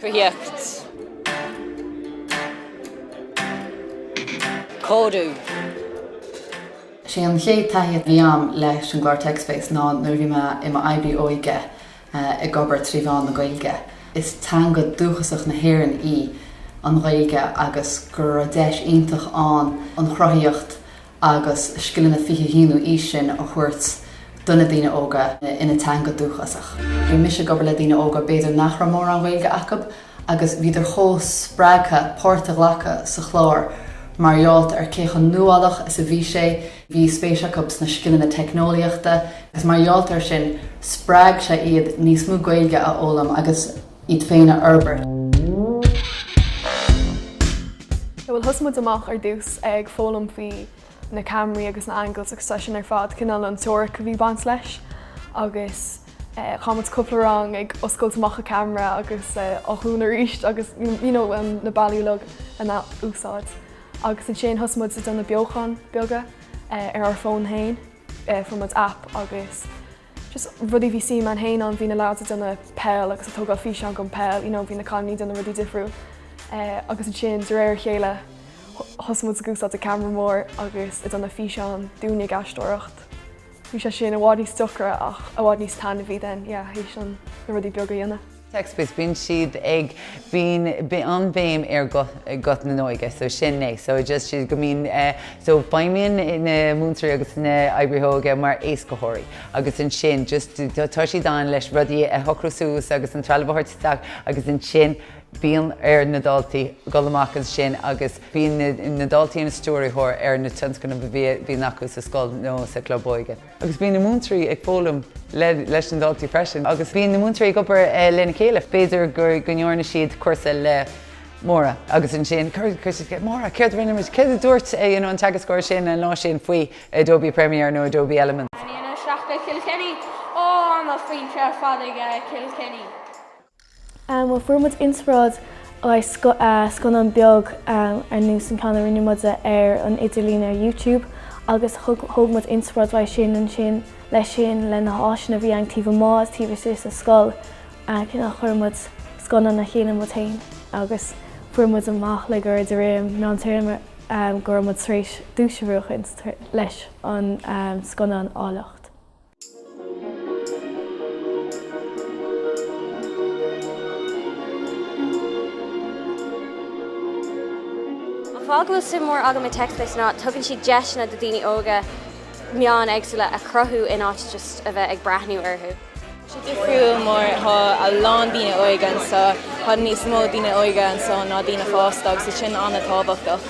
cruthaitheacht, cóiriú. Is é an chéad taithí a bhí agam leis an gclár TechSpace ná nuair a bhí mé i m'oibrí óige ag obair trí mheán na Gaeilge. Is teanga dhúchasach na hÉireann í an Ghaeilge agus go raibh deis iontach ann an chruthaíocht agus scileanna 21ú aois sin a thabhairt do na daoine óga ina teanga dhúchasach. Bhí mise ag obair le daoine óga b'fhéidir nach raibh mórán Gaeilge acu agus bhíodar chomh spreagtha páirt a ghlacadh sa chlár mar gheallta ar cé chomh nuálach is a bhí sé. Bhí spéis acu sna scileanna teicneolaíochta agus mar gheallta ar sin spreag sé iad níos mó Gaeilge a fhoghlaim agus iad féin a fhorbairt. Bhuel, thosaigh muid amach ar dtús ag foghlaim faoi na camraí agus na angles agus sin ar fad cineál an teoiric a bhí ag baint leis agus eh, chaith muid cúpla rang ag oscailt amach an camera agus eh, á dhún arís agus you know, um, na buillí lag ina úsáid. Agus ansin thosaigh muid ag déanamh beochan beaga eh, ar ár bhfón féin eh, fuair muid app agus Just rudaí a bhí suim againn féin ann bhí na lads ag déanamh peil agus ag tógáil físeán den pheil you know bhí na cailíní ag déanamh rudaí difriúil eh agus ansin de réir a chéile thosaigh muid ag úsáid an ceamara mór agus ag déanadh físeán dínn ag aisteoireacht. Bhí sé sin i bhfad níos deacra ach i bhfad níos taitneamhaí then yeah th'éis dúinn na rudaí beaga a dhéanamh. TechSpace bíonn siad ag bíonn an bhéim ar guth na hóige so sin é so just siad go mbíonn so feidhmíonn na múinteoirí agus na hoibrithe óige mar éascaitheoirí agus ansin just tá siad ann leis rudaí a shocrú suas agus an trealamh a thabhairt isteach agus ansin bíonn ar na daltaí dul amach ansin agus bíonn na daltaí ina stiúrthóir ar na tionscnaimh a bhíonn acu sa scoil nó sa chlub óige. agus bíonn na múinteoirí ag foghlaim leis na daltaí freisin agus bíonn na múinteoirí ag obair lena chéile, b'fhéidir go ndearna siad cúrsa le Máire agus ansin chuir siad ceist, 'Máire, céard a rinne muid, céard a dúirt an teagascóir sin an lá sin faoi Adobe Premiere nó Adobe Elements? Ainmnigh na sleachta Kilkenny ó a foinse fad aige Kilkenny. Bhuel fuair muid inspioráid as scannán beag ar nós an ceann a rinne muid ar an idirlíon ar YouTube agus thóg muid inspioráid as sin ansin leis sin le na háiseanna a bhí againn taobh amuigh agus taobh istigh sa scoil cineál chuir muid scannán le chéile muid féin agus fuair muid amach le gairid roimh an meántéarma go raibh muid tar éis duais a bhuachan leis an scannán Áilleacht. An fáth go bhfuil suim mhór agam i TechSpace ná tugann siad deiseanna do daoine óga meáin éagsúla a chruthú in áit just a bheith ag breathnú orthu. Tá sé difriúil mar tá a lán daoine óige anseo, tá níos mó daoine óige anseo ná daoine fásta agus tá sin an-tábhachtach.